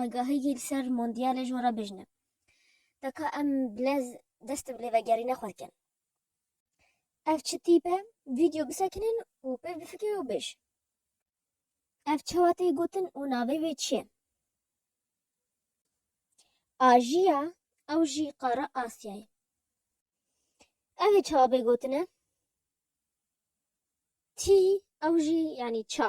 agahiyî li ser Mondyalê ji we re bijne. Teka em bilez dest bi lêvegerîna xwe dikin. Ev çi tîp e? Vîdeo bisekinin û pê bifikir û bêj. Ev çawa tê gotin û navê wê çi ye? Ajiya ew jî qara Asyayê. Ev ê çawa bê gotine? Tî ew jî yanî ça.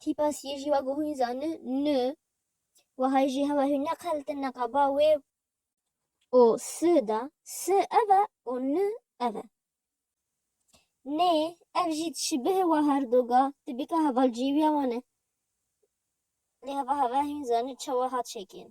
Tîpa siyê jî wek hûn zanin ni. Wahayê jî hewa hûn neqeltin ne qaba wê. O si da si ev e û ni ev e. Nê ev jî tişî bihê wa her du ga tibîka hevalcîwîya wan e. Lê heva hewa hûn zanin çawa hat şekên.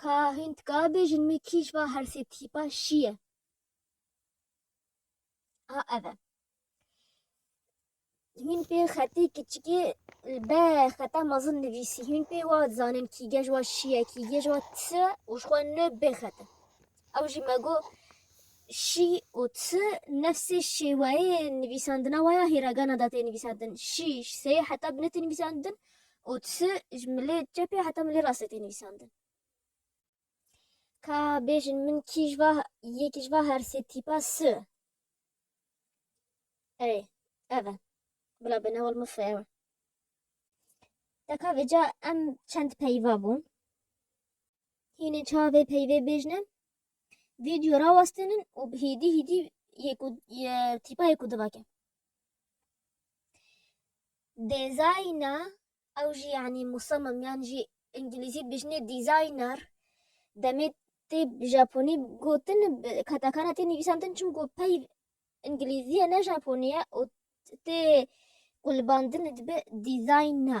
Ka hin tika bêjin me kîj va her sê tîpa şî ye. Ha ev e. Hîn pê xetê kiçikê li be xeta mezin nivîsî. Hîn pê wa dizanin kî gej wa şî ye, kî gej wa tişe û ji xwe ne bê xete. Ew jî me got, Şî û ti nefsê şêweyê nivîsandina we ya hîragana de tê nivîsandin. Şî ji seyê heta binê tê nivîsandin û ti ji milê çepê heta milê rastê tê nivîsandin. Ka bêjin min kî ji va yekî ji va her sê tîpa si? Erê, ev e. Bila bêne wal min fi ew e. Deka vêca em çend peyva bûn. Hînê çavê peyvê bêjne video rawastinin û hîdî hîdî tîpa yê ku divake. Dêzayna ew jî yanî musamim yan jî îngilîzî dibêjinê dîzayner demê tê japonî gotin katakana tê nivîsantin çimku peyv îngilîzî ye ne japonî ye û tê qulbandin dibe dîzayna.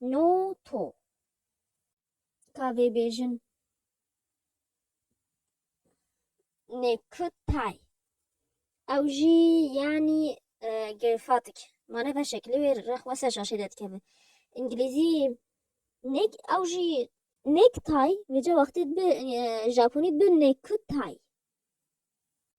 No to. Ka vê bêjin. Nê ku tay. Ew jî yanî gêrfatik. Mane beşek li wê re xwe ser şaşê derdikive. Îngilîzî nê ew jî. Nêktay vêca wextê bi japonî bi nêkutay.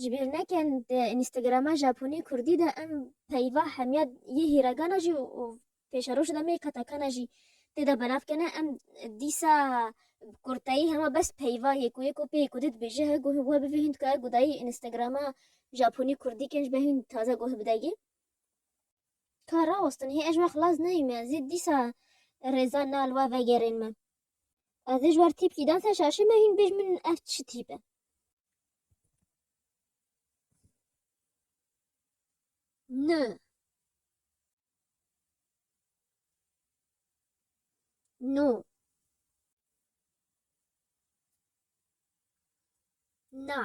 Ji bîr nekin di Înîstegrama Japonî Kurdî de em peyva hemiya yê hîregana jî û pêşerojê de mê katakana jî tê de belav kene. Em dîsa bi kurteyî hema bes peyva yê ku yê ku pê yê ku dê dibêje he guh we bivê hîn dikaye gudayî Înîstegrama Japonî Kurdî kên ji ber hîn taze guh bide yê. Ka rawestin hê ez ji we xilas neyî me zî dîsa rêza nal we vegerên me. Ez dê ji ber tîpkî dan ser şaşê me hîn bêj min ev çi tîp e. Nö. No. Na.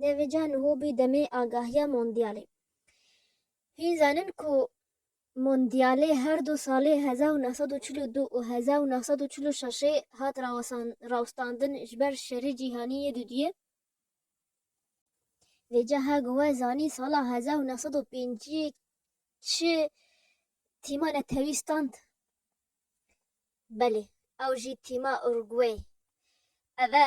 Devê can hobî demê agahiya mondyalê. Hîn zanin ku Mondyalê her du salê hezar û neh sed û çil û du û hezar û neh sed û çil û şeşê hat rawestandin ji ber şerê cîhanî yê dudiyê. Vê caha ku we zanîn sala hezar û neh sed û pêncî çi tîma netewî stand? Belê ew jî tîma Urugway. Ev e